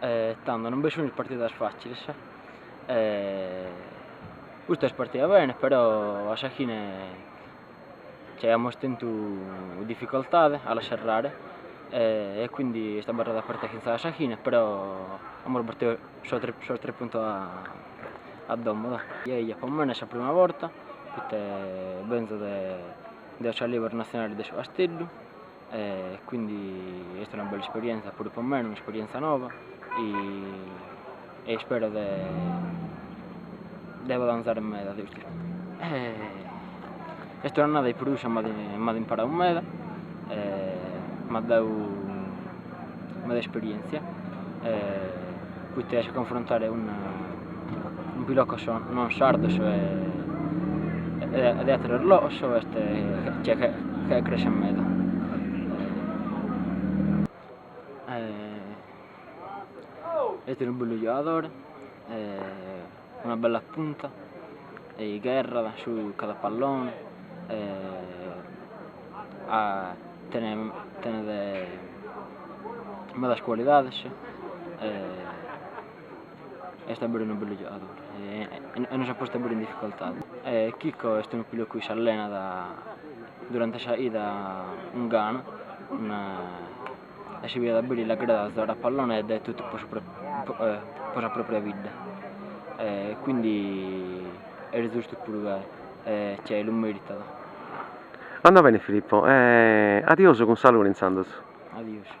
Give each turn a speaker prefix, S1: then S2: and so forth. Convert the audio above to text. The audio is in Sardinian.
S1: e tando non bi sunt partidas facilis e custa est partida bene però a sa fine nci aiamus tentu dificoltade a la serrare e quindi est abarrada aperta fintzas a sa fine però amus battidu sos tres puntos a domo dai eia po mene sa prima borta poita benzo de s'allievi nazionale de su Casteddu e quindi est una bella isperienza puru po mene, un'isperienza noba e ispero de avanzare meda de custu est un'annada chi po prus m'at imparau meda e m'at dau meda esperientzia e poita a confrontare cun, cun pilocos non sardos e, e de ateros logos est che, che, che cresce meda. E, est unu bellu giogadore e, una bella punta e gherrat su cada pallone e tenet medas cualidades e est a beru unu bellu giogadori e nos at postu a beru in dificoltade e Chico est unu pilocu chi s'allenat durante sa 'ida cun gana e s'impignat a beru l'agradat zogare a pallone dat totu po sa propria bidda e quindi est zustu puru ca si lu meritat.
S2: Anda beni Filippo e adiosu
S1: cun
S2: saluri intzandus. Adiosu.